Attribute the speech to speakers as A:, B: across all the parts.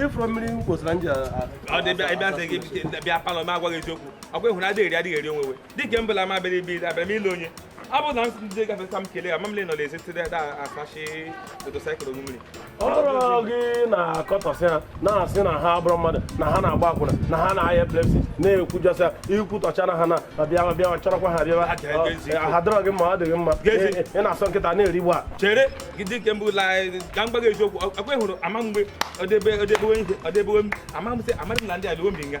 A: ị fụrọ mmiri kwụsịra m ji bịa palọ m gwa gị eziokwu ọkwa ị hụrụ adịghị eri adịghị eri onwe dịka mbụla ama abịara ibe ile abịara m ile onye ọbụna m ndị gafeta m kelee ya mamle nọ n'ezi tide da asachi motosaịkụl mmiri ọ bụrụ gị na-akọtọsị ha na-asị na ha abụrụ mmadụ na ha na-agba akwụna na ha na-aya epilepsy na-ekwujọsị ha i kwutọchana ha na na bịawa bịawa chọrọkwa ha bịawa Aja ebe ezi Ọ- ha dịrọ gị mma ọ dị gị mma Gezi. Ị- ị na-asọ nkịta na-erigbu a chere gị dịka mbụ la ka m gwa gị eziokwu ọkwa ị hụrụ ama mgbe ọdebe ọdebewe ihe ọdebewe m ama m sị amadị m na ndị alụwo mbi nga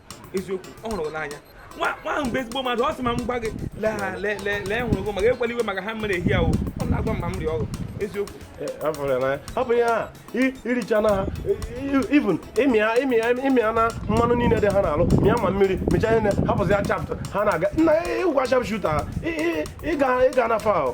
A: eziokwu ọ hụrụ gị n'anya nwa ahụ bụ ezigbo mmadụ ọ sị ma m gwa gị lee ha lee lee lee hụrụ gị maka ewela iwe maka ha mere ehi ahụ ọ na-agwa m ma m rịa ọrụ eziokwu ọ bụ ya i richana ha even ị mịa na mmanụ niile dị ha n'arụ mịa ma mmiri mịcha ihe hapụzi ya chapụta ha na-aga na ị wụ sharp shooter ị ga na fa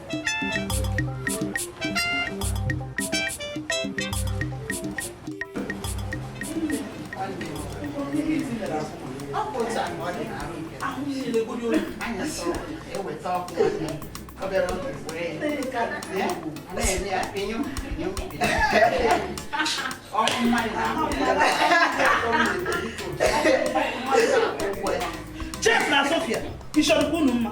B: Jeff na Sofia, ị chọrọ unu mma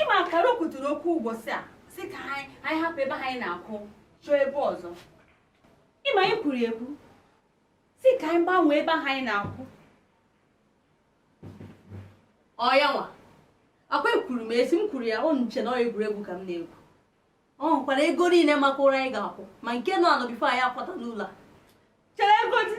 C: ị makwara o kwuturu okwu ụbọchị a si ka anyị hapụ ebe anyị na-akwụ chọọ ebe ọzọ ị ma anyị kwuru ekwu si ka anyị gbanwee ebe ahụ anyị na-akwụ ọ ya nwa ọkwa ekwuru m esi m kwuru ya ọ na-eche na ọ egwuregwu ka m na-egwu ọ hụkwara ego niile maka ụlọ anyị ga-akwụ ma nke nọ anọ before anyị akwata n'ụlọ a chere ego dị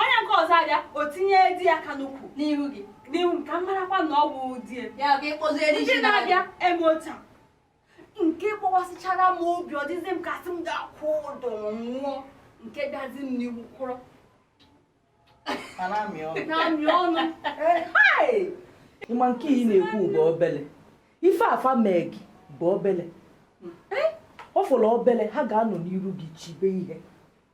C: onye nke ọzọ abịa o tinye di ya aka n'ukwu n'ihu gị n'ihu m ka m marakwa na ọ bụ di ya ndị na-abịa eme otu a nke gbawasịchara m obi ọ dịzi m ka sị m gaa kwụọ ụdọ nwụọ nke bịazi m n'ihu kwụrụ na-amị
D: ọnụ ị ma nke ị na-ekwu bụ obele ife a fa mee gị bụ obele ọ fọrọ obele ha ga-anọ n'iru gị chibe ihe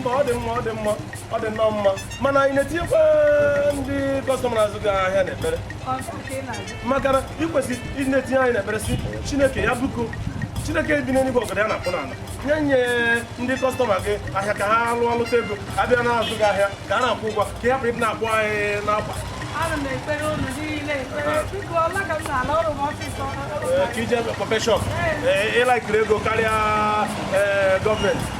A: mba ọ dị mma ọ dị mma ọ dị nnọọ mma mana ị na-etinyekwa ndị kọstọma na-azụ gị ahịa n'ekpere maka na ị kwesịrị ịdị na-etinye anyị n'ekpere sị chineke ya biko chineke bi n'eluigwe ọgọdọ ya na-akpụ n'ala nye nye ndị kọstọma gị ahịa ka ha lụọ lụta ego bịa na-azụ gị ahịa ka a na-akwụ ụgwọ ka ị hapụ ịdị na-akpụ anyị n'akwa ana m ekpere unu niile ekpere biko ọla ka m na-ala ọrụ m ọsịsọ Ee, ka i je kpọpee shọp ị laikiri ego karịa ee, gọọmenti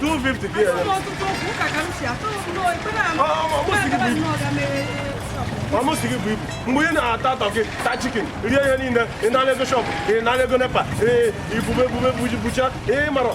E: 250 gị ere. ọ mụ sị gị buo ibu mgbe ị na-ata tọkị ta chikin rie ihe niile ị na ego shọpụ ị na ego nepa ee i bube ebube buji bucha ị marọ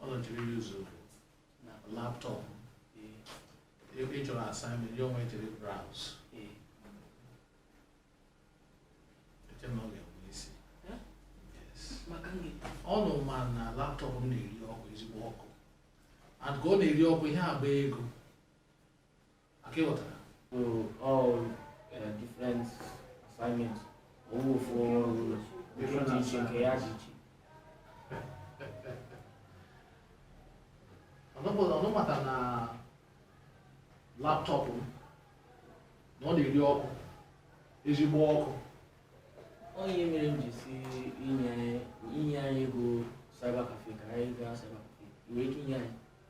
E: ọ nọchiri yuzu na laptọp ị chọrọ assignment ya onwe jiri browse eche na ọ ga-enwe isi Yes. maka nge ụnụ ma na laptọp m na-eri ọkụ ezigbo ọkụ and ka ọ na-eri ọkụ ihe agba ego Okay ị ghọtara. So
F: all uh, different assignments. Ọ wụ ofu ọrụ
E: different iche nke ya dị
F: iche.
E: Ụnụ mata na laptọpụ m na ọ na-eri ọkụ ezigbo
F: ọkụ. Ọ ihe mere m ji sị i nye i nye anyị ego cyber cafe ka anyị gaa cyber cafe. I nwere ike inye anyị?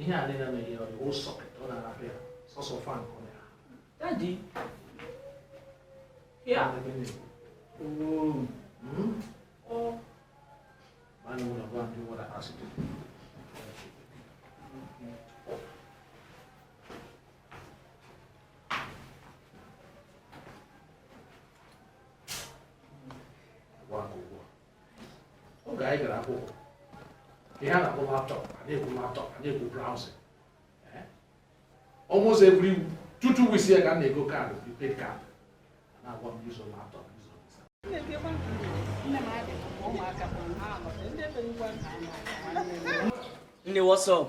E: ihe a niile mere ya ọ the whole sọkịt ọ na-arapụ ya sọsọ fan ka ọ na-ahụ
F: Daddy. Ya. ebe na-ekwu Oo. "Hmm,
E: Ọ. ma anyị nwere ọgwa ndị nwere asị dị oge anyị gara akwụkwọ ihe a na-akpọ laptọp a na-ekwu laptọp a na-ekwu browsing almost every two two weeks ya ka a na-ego kaadị prepaid kaadị na-agwa m use laptọp
F: use nne what's up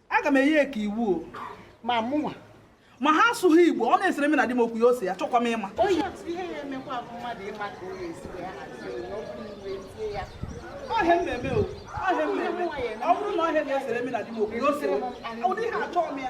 B: aga m enyekwa iwu o ma
G: mụnwa ma ha
B: asụghị igbo ọ na-esere m na di m okwu ya ose ya achọkwa m ịma ọ ihe a m na-eme o ọ ihe a m
G: na-eme ọ bụrụ na ọ ihe a na-esere m na di m
B: okwu ya ose ụdị ihe a achọghị m ya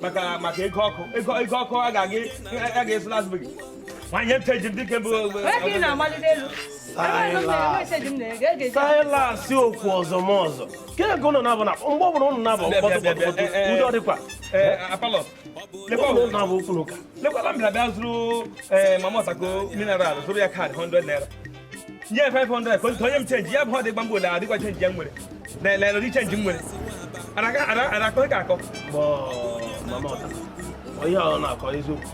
A: maka maka ego ọkụ ego ego ọkụ a ga-aga a ga-eso n'azụ gị nwanyị chenji m dịka
H: bụ saịlasị okwu ọzọ m ọzọ ka ego ụnụ na-abụ na mgbe ọbụla ụnụ na-abụ mkpọtụ mkpọtụ udo
A: dịkwa ụnụ
H: na-abụ okwu na ụka lekwala m bịa bịa zụrụ
A: mamọtako mineral zụrụ ya kaadị 100 naira nye 500 ka o nye m change ya bụ ọ dị gbamgbo ole adịkwa change ya nwere lelele ụdị change m nwere arakọghị ka akọ onye ọ na-akọ eziokwu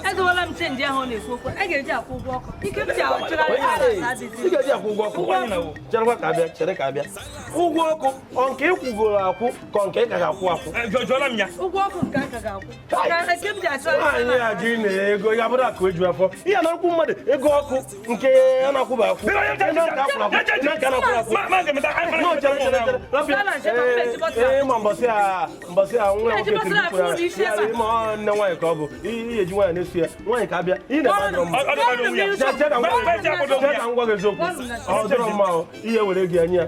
H: edowela m change ahụ ọ na-ekwu okwu a ga-eji akwụ ụgwọ ọkụ ike
C: m ji ị ga-eji akwụ ụgwọ
H: ọkụ cherekwa ka abịa chere ka abịa ụgwọ ọkụ ọ nke ị kwụgoro akwụ ka ọ nke ị ka ga-akwụ akwụ ụgwọ ọkụ nke a ka ga-akwụ
C: anyị ajụ ị
H: na ego ya bụrụ akụ eju afọ ihe na nkwụ mmadụ ego ọkụ nke a na-akwụba akwụ ị ma mbọsị a mbọsị a nwa nwoke tiri ma ọ nne nwaanyị ka ọ bụ ihe e ji nwaanyị na-esu ya nwaanyị ka abịa ị na-eme ngwa gị eziokwu ọ dịrọ mma ihe were gị anya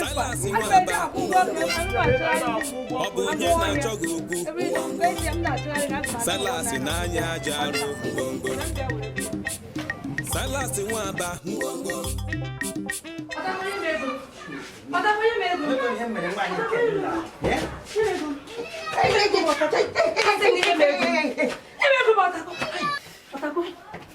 I: Silas Nwa Aba ọ bụ onye na-achọ gị okwu Silas n'anya aja arụ ngwongwo Silas Nwa Aba ngwongwo Ego m ọtakwa. Ego m ọtakwa.